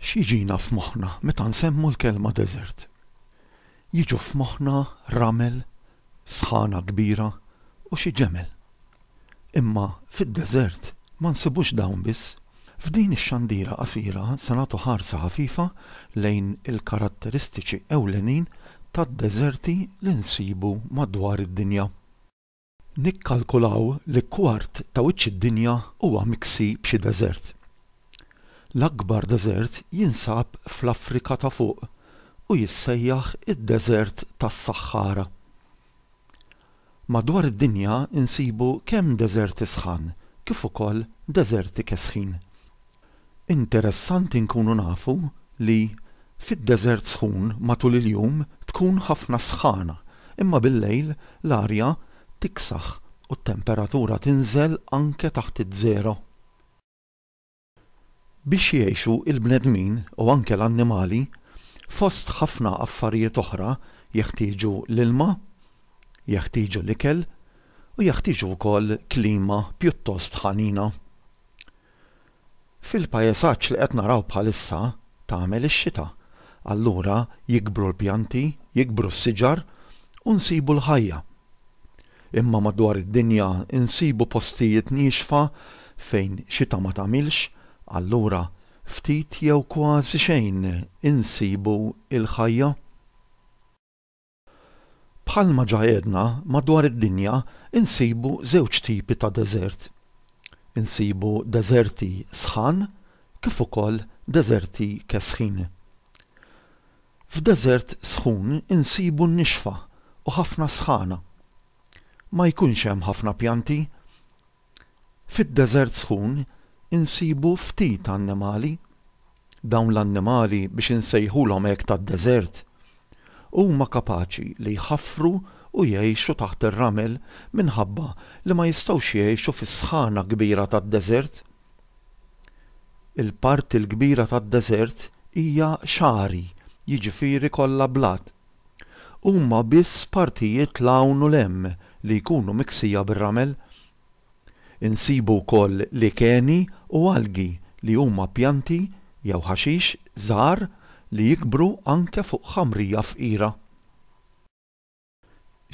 X'jiġina f'moħħna meta nsemmu l-kelma deżert? Jiġu f'moħħna ramel, sħana kbira u xi ġemel. Imma fid-deżert ma nsibux dawn biss. F'din ix-xandira qasira se nagħtu ħarsa ħafifa lejn il-karatteristiċi ewlenin tad-deżerti li nsibu madwar id-dinja. Nikkalkulaw li kwart ta' wiċċ id-dinja huwa miksi b'xi deżert. L-akbar deżert jinsab fl-Afrika ta' Fuq u jissejjaħ id-Deżert tas-Saħħara. Madwar id-dinja nsibu kemm deżerti sħan kif ukoll deżerti kesħin. Interessanti nkunu nafu li fid-deżert sħun matul il-jum tkun ħafna s-sħana imma bil-lejl l-arja tiksaħ u t-temperatura tinżel anke taħt iż-żero. Biex jgħixu l-bnedmin, u anke l-annimali, fost ħafna affarijiet oħra jeħtieġu l-ilma, jeħtieġu l-ikel u jeħtieġu wkoll klima pjuttost ħanina. Fil-paesaġġ li qed naraw bħalissa tagħmel ix-xita, allura jikbru l-pjanti, jikbru s-siġar u nsibu l-ħajja. Imma madwar id-dinja nsibu postijiet niexfa fejn xita ma tagħmilx, allura ftit jew kważi xejn insibu l-ħajja. Bħalma ġa għedna, madwar id-dinja nsibu żewġ tipi ta' deżert. Insibu deżerti sħan kif ukoll deżerti kesħin. F'deżert sħun insibu n-nixfa u ħafna sħana. Ma jkunx hemm ħafna pjanti. Fid-deżert sħun insibu ftit annimali. Dawn l-annimali biex insejħulhom hekk tad-deżert. Huma kapaċi li jħaffru u jgħixu taħt ir-ramel minħabba li ma jistgħux jgħixu fis-sħana kbira tad-deżert. Il-parti l-kbira tad-deżert hija xagħri, jiġifieri kollha blat. Huma biss partijiet 'l hawn u 'l hemm li jkunu miksija bir-ramel. Insibu wkoll likeni u algi li huma pjanti jew ħaxix żgħar li jikbru anke fuq ħamrija fqira.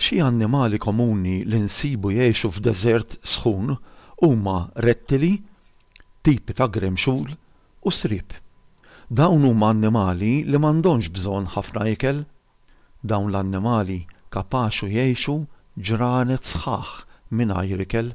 Xi annimali komuni li nsibu jgħixu f'deżert sħun huma rettili, tipi ta' gremxul u sriep. Dawn huma annimali li m'għandhomx bżonn ħafna ikel. Dawn l-annimali kapaxu jgħixu ġranet sħaħ mingħajr ikel.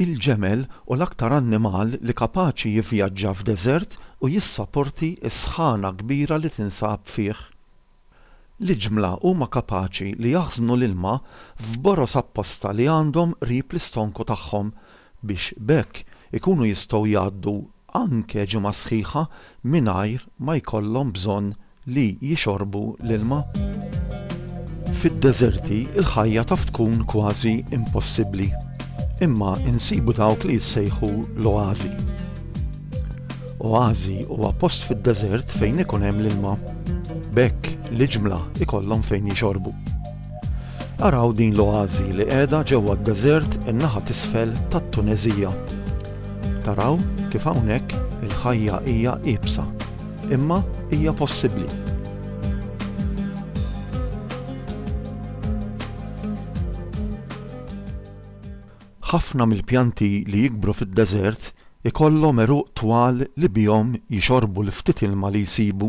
Il-ġemel hu l-aktar annimal li kapaċi jivvjaġġa f'deżert u jissaporti s-sħana kbira li tinsab fih. L-iġmla huma kapaċi li jaħżnu l-ilma f'boroż apposta li għandhom qrib l-istonku tagħhom biex b'hekk ikunu jistgħu jgħaddu anke ġimgħa sħiħa mingħajr ma jkollhom bżonn li jixorbu l-ilma. Fid-deżerti l-ħajja taf tkun kważi impossibbli, imma insibu dawk li jissejħu l-oażi. Oażi huwa post fid-deżert fejn ikun hemm l-ilma, b'hekk l-iġmla jkollhom fejn jixorbu. Araw din l-oażi li qiegħda ġewwa d-deżert in-naħa t'isfel tat-Tuneżija. Taraw kif hawnhekk il-ħajja hija iebsa, imma hija possibbli. Ħafna mill-pjanti li jikbru fid-deżert ikollhom għeruq twal li bihom jixorbu l-ftit ilma li jsibu.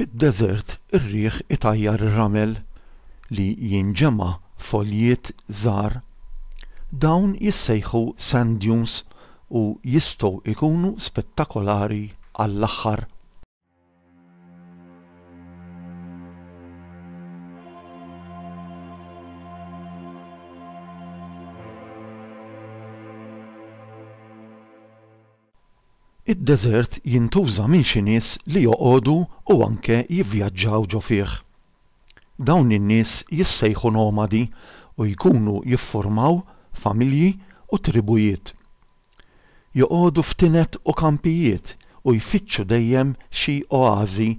Fid-deżert ir-riħ itajjar ir-ramel li jinġema' f'għoljiet żgħar. Dawn jissejħu sand dunes u jistgħu jkunu spettakolari għall-aħħar. Id-deżert jintuża minn xi nies li joqogħdu u anke jivvjaġġaw ġo fih. Dawn in-nies jissejħu nomadi u jkunu jiffurmaw familji u tribujiet. Joqogħdu f'tined u kampijiet u jfittxu dejjem xi oażi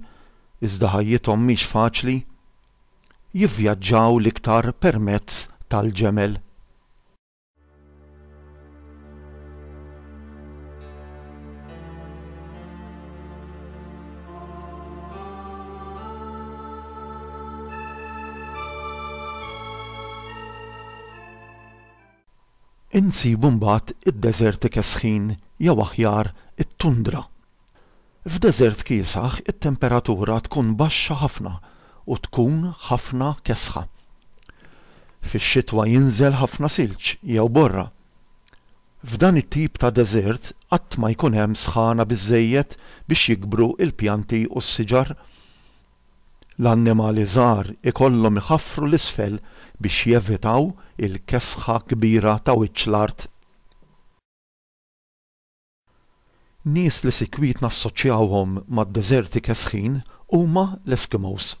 iżda ħajjithom mhix faċli. Jivvjaġġaw l-iktar permezz tal-ġemel. Insibu mbagħad id-deżert ikesħin jew aħjar it-tundra. F'deżert kiesaħ it-temperatura tkun baxxa ħafna u tkun ħafna kesħa. Fix-xitwa jinżel ħafna silġ jew borra. F'dan it-tip ta' deżert qatt ma jkun hemm sħana biżżejjed biex jikbru l-pjanti u s-siġar. L-annimali żgħar ikollhom iħaffru 'l isfel biex jevitaw il-kesħa kbira ta' wiċċ l-art. Nies li sikwit nassoċjawhom mad-deżerti kesħin huma l-Eskimos.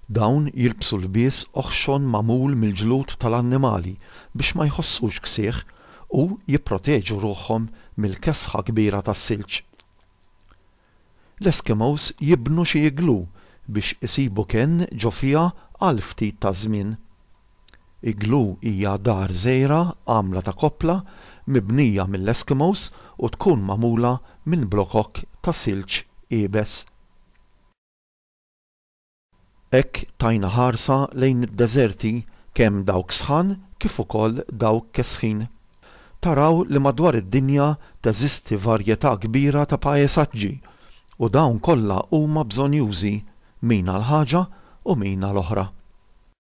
Dawn jilbsu lbies oħxon magħmul mill-ġlud tal-annimali biex ma jħossux ksieħ u jipproteġu ruħhom mill-kesħa kbira tas-silġ. L-Eskimos jibnu xi iglú biex isibu kenn ġo fiha għal ftit taż-żmien. Iglú hija dar żgħira għamla ta' koppla mibnija mill-Eskimos u tkun magħmula minn blokok ta' silġ iebes. Hekk tajna ħarsa lejn id-deżerti kemm dawk sħan kif ukoll dawk kesħin. Taraw li madwar id-dinja teżisti varjetà kbira ta' paesaġġi u dawn kollha huma bżonjużi, min għal ħaġa u min għal oħra.